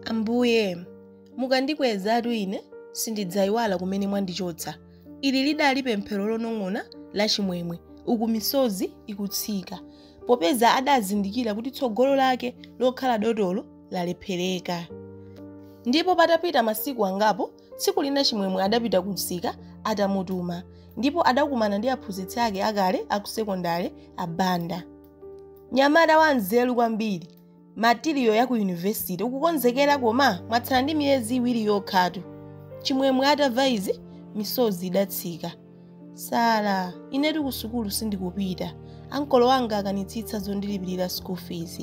Ambuye, mukandikwezatu ine sindidzaiwala kumene mwandichotsa. Ili lidali pemphero lonong'ona la Chimwemwe, uku misozi ikutsika, popeza adazindikira kuti tsogolo lake lokhala dotolo lalephereka. Ndipo patapita masiku angapo, tsiku lina Chimwemwe adapita kumsika atamutuma, ndipo adakumana ndi aphunzitsi ake akale aku sekondale a Banda. Nyamata wanzeru kwambiri, matiriyo ya ku yunivesite ukukonzekera koma mwatsala ndi miyezi iwiri yokhatu chimwemwe atamva izi misozi idatsika sala inetu ku sukulu sindikupita ankolo anga akanitsitsa zondilipirira school fees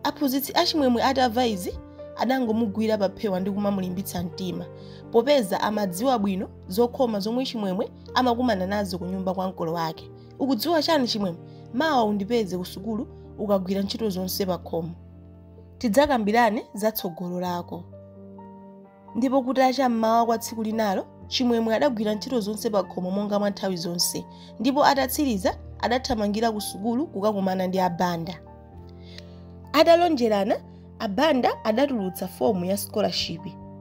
aphunzitsi a chimwemwe atamva izi adangomugwira paphewa ndi kumamulimbitsa mtima popeza amadziwa bwino zokhoma zomwe chimwemwe amakumana nazo ku nyumba kwa ankolo ake Ukudziwa chani Chimwemwe? Mawa undipeze kusukulu ukagwira ntchito zonse pakhomo. Tidzakambirane za tsogolo lako. Ndipo kutacha mmawa kwa tsiku linalo, Chimwemwe adagwira ntchito zonse pakhomo monga mwa nthawi zonse, ndipo atatsiriza adathamangira kusukulu kukakumana ndi a Banda. Atalonjerana, a Banda adatulutsa fomu ya scholarship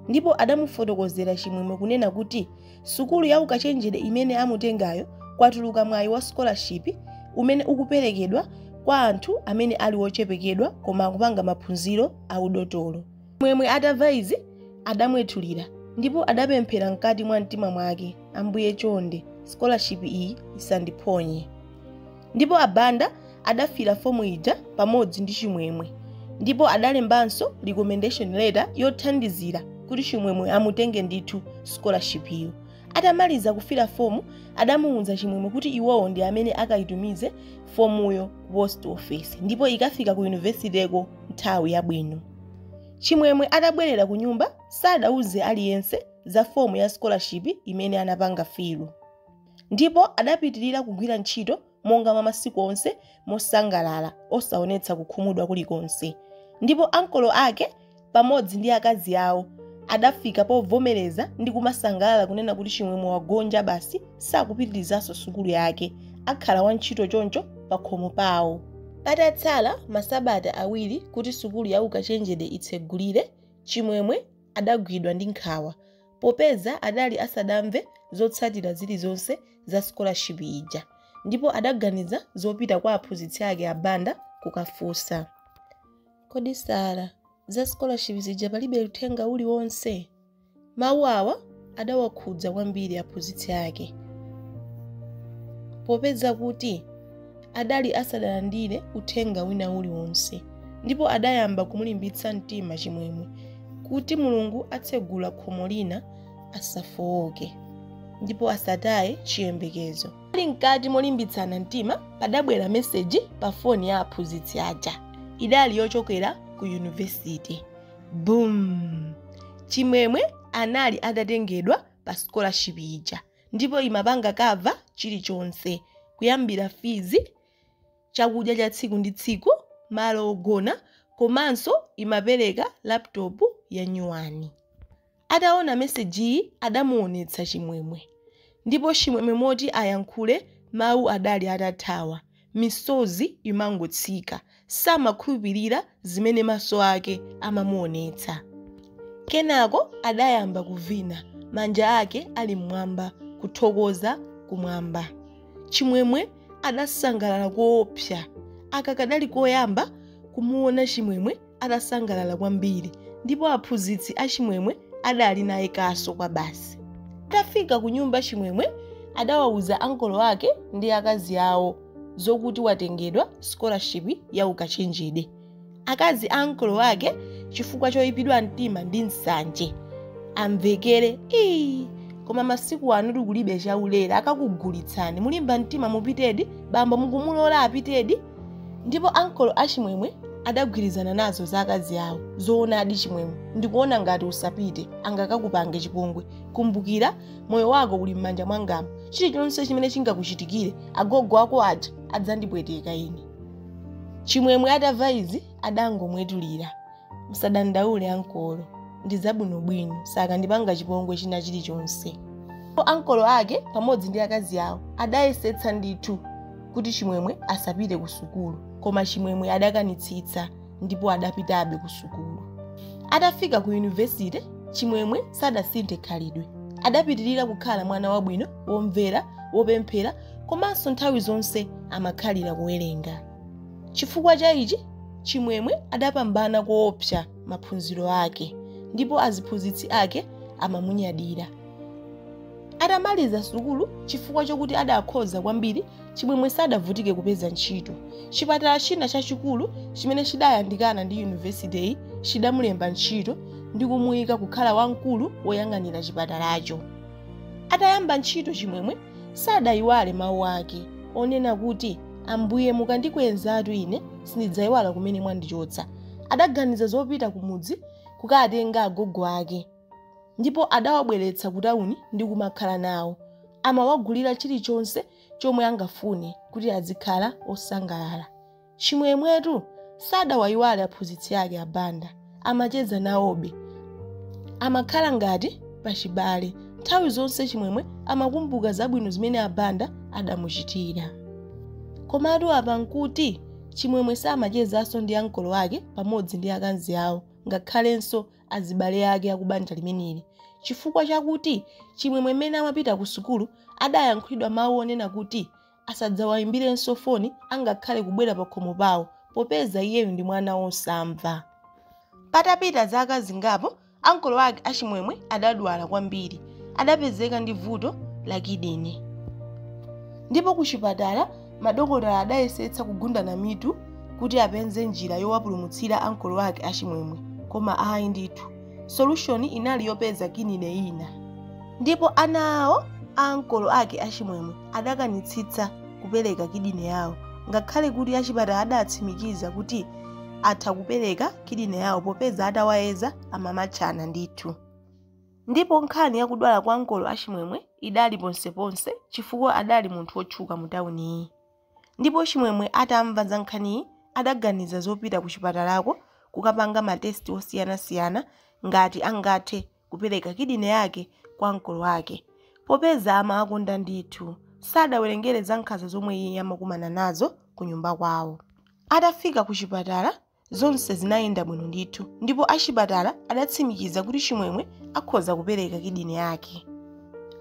ndipo adamufotokozera Chimwemwe kunena kuti sukulu ya ukachenjede imene amutengayo kwatuluka mwayi wa scholarship umene ukuperekedwa kwa anthu amene ali ochepekedwa koma akupanga maphunziro a udotolo chimwemwe atamva izi adamwetulira ndipo adapemphera mkati mwa mtima mwake ambuye chonde scholarship iyi isandiphonye Ndipo a Banda adafila fomu ija pamodzi ndi Chimwemwe ndipo adalembanso recommendation letter yothandizira kuti Chimwemwe amutenge ndithu scholarship yo. Atamaliza kufila fomu adamuuza Chimwemwe kuti iwowo ndi amene akaitumize fomuyo ku post office ndipo ikafika ku university ko nthawi yabwino. Chimwemwe atabwerera kunyumba sadauze aliyense za fomu ya scholarship imene anapanga fill. ndipo adapitirira kugwira ntchito monga mwa masiku onse mosangalala osaonetsa kukhumudwa kulikonse ndipo ankolo ake pamodzi ndi akazi awo adafika povomereza ndi kumasangalala kunena kuti chimwemwe wagonja basi sakupitirizanso sukulu yake akhala wantchito choncho pakhomo pawo patatsala masabata awiri kuti sukulu ya ukachenjede itsegulire chimwemwe adagwidwa ndi nkhawa popeza adali asadamve zotsatira zilizonse za scholarship ija ndipo adaganiza zopita kwa aphunzitsi ake a Banda kukafunsa. Kodi Sala, za scholarship zija palibe uthenga uliwonse? Mawu awa adawakhudza kwambiri aphunzitsi ake popeza kuti adali asadalandire uthenga wina uliwonse ndipo adayamba kumulimbitsa mtima chimwemwe kuti mulungu atsegula khomo lina asafowoke ndipo asataye chiyembekezo ali mkati molimbitsana mtima padabwera meseji pa foni ya aphunzitsi aja idali yochokera ku yunivesiti boom chimwemwe anali atatengedwa pa scholarship ija ndipo imapanga cover chilichonse kuyambira fees chakudya cha tsiku ndi tsiku malo ogona komanso imapereka laptop ya nyuwani ataona mesejiyi adamuonetsa chimwemwe ndipo chimwemwe moti ayankhule mawu adali atathawa misozi imangotsika. Samakhulupirira zimene maso ake amamuonetsa. Kenako adayamba kuvina, manja ake ali m'mwamba kuthokoza kumwamba. Chimwemwe adasangalala koopsa. Aka kadali koyamba kumuona Chimwemwe atasangalala kwambiri ndipo aphunzitsi achimwemwe adali naye kaso kwa basi atafika ku nyumba chimwemwe adawauza ankolo ake ndi akazi awo zokuti watengedwa scholarship ya ukachenjede akazi a ankolo ake chifukwa choyipidwa mtima ndi nsanje amvekere ii koma masiku anotu kulibe chaulere akakugulitsani mulimba mtima mupitedi bambo mukumulola apitedi ndipo ankolo achimwemwe adagwirizana nazo za akazi awo zoonadi chimwemwe ndikuona ngati usapite angakakupange chipongwe kumbukira moyo wako uli m'manja mwangamu chilichonse chimene chingakuchitikire agogo ako aja adzandipweteka ine chimwemwe atamva izi adangomwetulira musadandaule ankolo ndi zabwinobwino sakandipanga chipongwe china chilichonse ankolo ake pamodzi ndi akazi awo adayesetsa ndithu kuti chimwemwe asapite ku sukulu koma chimwemwe adakanitsitsa ndipo adapitabe ku sukulu atafika ku yunivesite chimwemwe sadasinthe khalidwe adapitirira kukhala mwana wabwino womvera wopemphera komanso nthawi zonse amakhalira kuwerenga Chifukwa cha ichi, Chimwemwe adapambana koopsa maphunziro ake ndipo aziphunzitsi ake amamunyadira. Atamaliza sukulu, chifukwa chokuti adakhoza kwambiri, Chimwemwe sadavutike kupeza ntchito. Chipatala china chachikulu chimene chidayandikana ndi yunivesiteyi chidamulemba ntchito ndi kumuika kukhala wamkulu woyang'anira chipatalacho. Atayamba ntchito Chimwemwe sadaiwale mawu ake onena kuti, Ambuye, mukandikwezatu ine, sindidzaiwala kumene mwandichotsa. Adaganiza zopita kumudzi kukatenga agogo ake ndipo adawabweretsa kutauni ndi kumakhala nawo. Amawagulira chilichonse chomwe angafune kuti azikhala osangalala. Chimwemwetu sadawaiwale aphunzitsi ake a Banda. amacheza nawobe amakhala ngati pachibale nthawi zonse chimwemwe amakumbuka zabwino zimene a Banda adamuchitira komatu apa nkuti chimwemwe samachezanso ndi ankolo ake pamodzi ndi akanzi awo ngakhalenso azibale ake akubanja limeneli chifukwa chakuti chimwemwe mmene amapita ku sukulu adayankhulidwa mawu onena kuti asadzawayimbirenso foni angakhale kubwera pakhomo pawo popeza iyeyu ndi mwana wosamva. Patapita zaka zingapo, ankolo ake a Chimwemwe adadwala kwambiri. Adapezeka ndi vuto la kidini. Ndipo kuchipatala madokotala adayesetsa kugundana mitu kuti apeze njira yowapulumutsira ankolo ake a Chimwemwe, koma ayi ndithu. solution inali yopeza kidine ina ndipo ana awo a ankolo ake a Chimwemwe adakanitsitsa kupereka kidine yawo ngakhale kuti achipatala adatsimikiza kuti atha kupereka kidine yawo popeza atawayeza amamatchana ndithu ndipo nkhani yakudwala kwa ankolo a Chimwemwe idali ponseponse chifukwa adali munthu wotchuka mu tawuniyi ndipo Chimwemwe atamva za nkhaniyi adaganiza zopita kuchipatalako kukapanga ma test osiyanasiyana ngati angathe kupereka kidney yake kwa ankolo ake popeza amawakonda ndithu. Sadawerengere za nkhanza zomwe iye amakumana nazo kunyumba kwawo. Atafika kuchipatala zonse zinayenda bwino ndithu ndipo achipatala adatsimikiza kuti chimwemwe akhoza kupereka kidini yake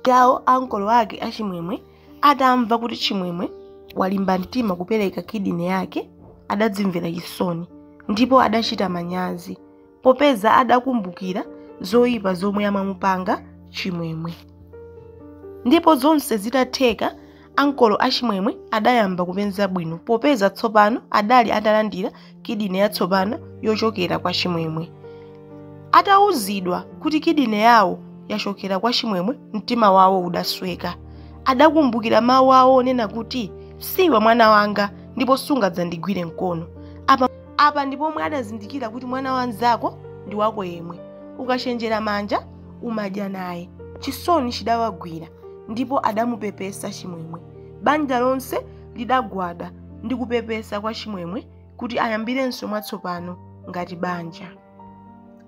yawo ankolo ake a Chimwemwe atamva kuti chimwemwe walimba mtima kupereka kidini yake adadzimvera chisoni ndipo adachita manyazi popeza adakumbukira zoyipa zomwe amamupanga chimwemwe ndipo zonse zitatheka Ankolo a Chimwemwe adayamba kupenza bwino popeza tsopano adali atalandira kidini yatsopano yochokera kwa Chimwemwe. Atauzidwa kuti kidini yawo yachokera kwa Chimwemwe mtima wawo udasweka. Adakumbukira mawu awo onena kuti siwe mwana wanga ndipo sungadzandigwire mkono. Apa ndi pomwe adazindikira kuti mwana wa mnzako ndi wako yemwe. Ukachenjera manja umadya naye. Chisoni chidawagwira. ndipo adamupepesa Chimwemwe. Banja lonse lidagwada ndi kupepesa kwa Chimwemwe kuti ayambirenso mwatsopano ngati banja.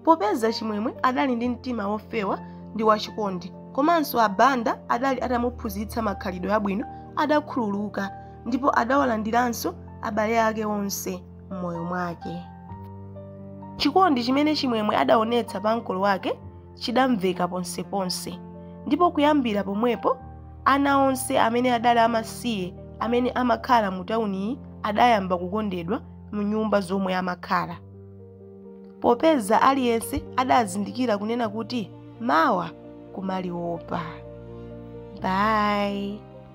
Popeza Chimwemwe adali ndi mtima wofewa ndi wachikondi, komanso a Banda adali atamuphunzitsa makhalidwe abwino, adakhululuka ndipo adawalandiranso abale ake onse m'moyo mwake. Chikondi chimene Chimwemwe adaonetsa pa ankolo wake chidamveka ponseponse, ndipo kuyambira pomwepo ana onse amene adali amasiye amene amakhala mu tawuniyi adayamba kukondedwa mu nyumba zomwe amakhala. Popeza aliyense adazindikira kunena kuti mawa kumaliopa. Bye.